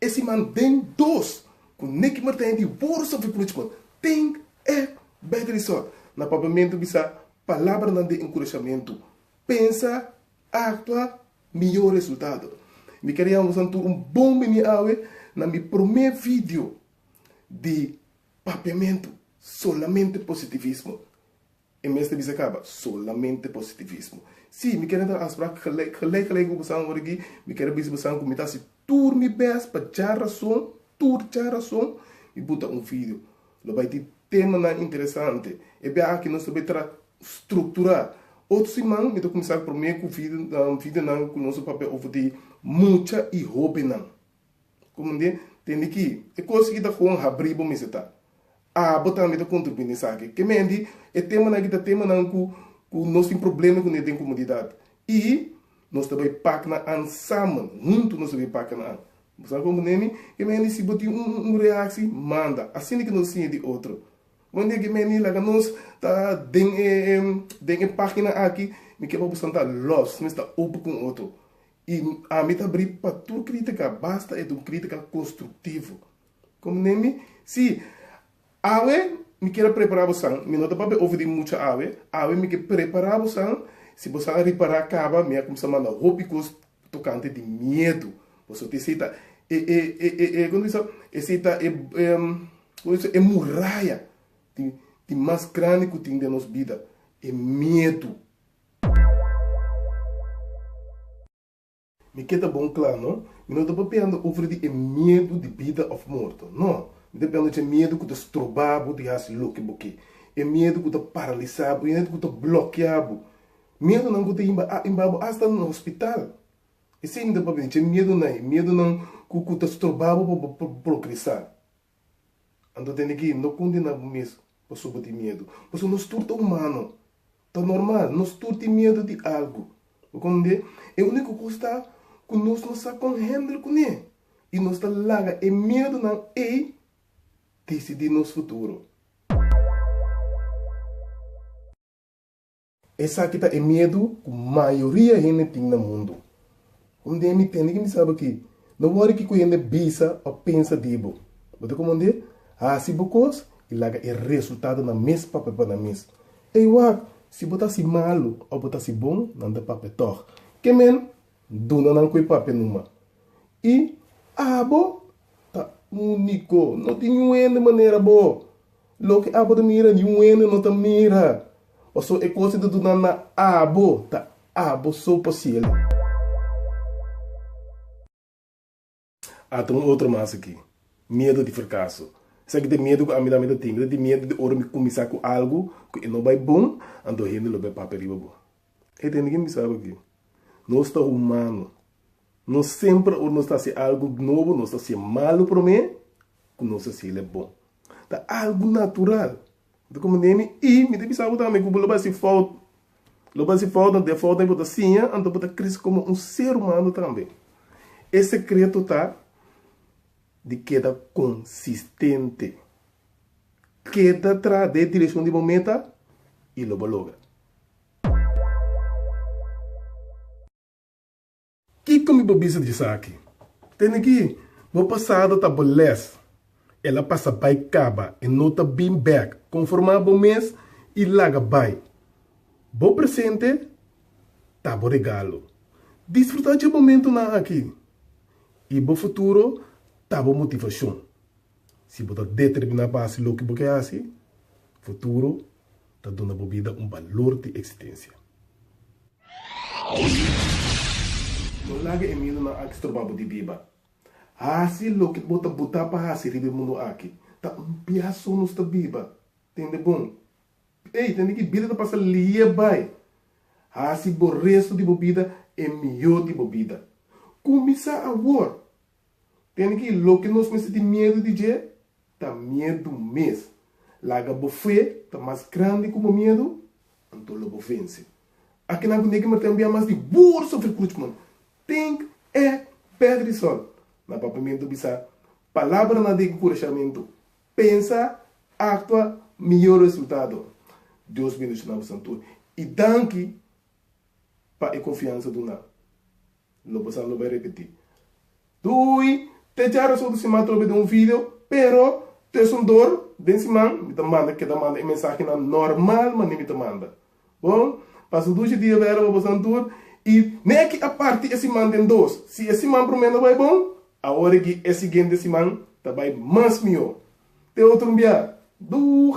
E siman den dos ku Nicky Martijn di Worso Vipluchkot Tink Act Better di sòrt na Papiamentu bisa palabranan di enkurashamentu, Pensa, Aktua, Mihó Resultado. Mi kere ya wunsa tur un bon bini awe na mi promé video di Papiamentu, Solamente Positivismo. E mes ta bisa caba solamente positivismo. Sí, mi keda ta aspraak gelijk, gelijk, gelijk cu bosan ora aki. Mi keda bisa bosan cu mi ta haci tur mi best pa dja razon, tur dja razon mi buta un video. Lo bay tin temanan interesante. E biaha aki nos ta bay tra structura. Otro siman mi ta cuminsa prome cu videonan cu nos a papia over di mucha y hobennan. Kumindi tende ki e kos ki ta kon habri bo mester ta. Abo tambe ta kontribuí na esaki. Ke mindi e temanan aki ta temanan ku ku nos tin problema kuné den komunidat. I nos ta bai paknan an samen, huntu nos ta bai paknan an. Bo sa kon kuné mi? Ke mindi si bo tin un un reaksi manda asina ke nos siña di otro. Kumindi ke mindi laga nos ta den e den e página aki mi ke pa bo san ta lòs, mester ta open kon otro. I ami ta bri pa tur kritika, basta e ta un kritika konstruktivo. Komo Nemi, Sí, awe mi kier a prepará bosan, mi no ta papia over di mucha awe, awe mi ke prepará bosan, si bosan a ripará kaba, mi a kumsa manda hopi kos tokante di miedu boso. Te esei ta e, e, e, e, e, kon ta bisa, esei ta e, e, kon ta bisa, e muraya di, di mas grandi ku tin den nos bida, e miedu. Mi ke ta bon kla no, mi no ta papiando over di e miedu di bida of morto. No, mi ta piando c'e miedu cu ta stroba bo di haci loke bo ke, e miedu cu ta paralisa bo, e miedu cu ta blokia bo, miedunan cu ta inba bo hasta na hospital. Esey mi ta papia di c'e miedunan, e miedunan cu ta stroba bo pa bo progresa. Anto tene ki no kundena bo mes paso bo tin miedu. Paso nos tur ta umano. Ta normal nos tur tin miedu di algu. Bo kòm de? E úniko kos ta ku nos no sa kon hèndel kuné i nos ta laga e miedunan ei disidí nos futuro. Esaki ta e miedu ku mayoria hende tin na mundu. Hunde mi tende ki mi sa bo ki? No wòri kiko e hende bisa òf pensa di bo. Bo ta komondi? Hasi bo kos i laga e resultadonan mes papia pa nan mes. Ey wak! Si bo ta hasi malu òf bo ta hasi bon, nan ta papia tòg. Ke men? Duna nan ku e papia numa. I abo ta úniko. No tin un hende manera bo. Loke abo ta mira ni un hende no ta mira, pasobra e kos e ta duna na abo ta abo so pa cielo. A ta un otro mas aki. Miedu di fracaso. Esaki ta e miedu cu ami tambe ta tin. Mi ta tin miedu di ora mi cuminsa cu algo cu e no bay bon, anto hende lo bay papia riba bo. E ta hende cu mi bisaba aki, Nos ta humano. Nos semper ora nos ta hasi algu nobo nos ta hasié malu promé ku nos hasiel e bon. Ta algu natural. Bo ta komo neni i mi ta bisa bo tambe ku bo lo bai hasi fout. Lo bai hasi fout na den fout ei bo ta siña anto bo ta krese komo un ser humano tambe. E sekreto ta di keda konsistente. Keda traha den e direkshon di bo meta i lo bo logra. Kiko mi bo bisa di esaki? Tene ki bo pasado ta bo les. El a pasa bai kaba, e no ta bin bek. Konformá bo mes i laga bai. Bo presente ta bo regalo. Disfrutá dje momentunan aki, i bo futuro ta bo motivashon. Si bo ta determiná pa hasi loke bo ke hasi, futuro ta duna bo bida un balor di eksistensia. No laga e miedunan aki stroba bo di biba. Hasi loke bo ta buta pa hasi riba e mundu aki. Ta un biaso nos ta biba. Tende bon. Ey, tende ki bida ta pasa liye bai. Hasi bo resto di bo bida e mihó di bo bida. Kuminsá awor. Tende ki loke nos mester tin miedu di dje ta miedu mes. Laga bo fe ta mas grandi ku bo miedu, anto lo bo vense. Akinan ku neki martel bia mas di bur sufri kruchman, tink e Pederson na papamentu bisa palabranan di enkurashamentu, Pensa, aktua, mihó resultado. Dios bendishona bosan tur i danki pa e konfiansa duna. Lo pasa lo bai repeti. Dui te jara so si m'a trobe den un video, pero tues un dor den siman mi ta manda keda manda e mensahenan normal manera mi ta manda. Bon, pasa dushi dia bai aroba boso nan tur i ne aki a parti e siman den dos. Si e siman prome no bai bon, awor aki e siguiente siman ta bai mas mihó. Te otro un bia. Doeg!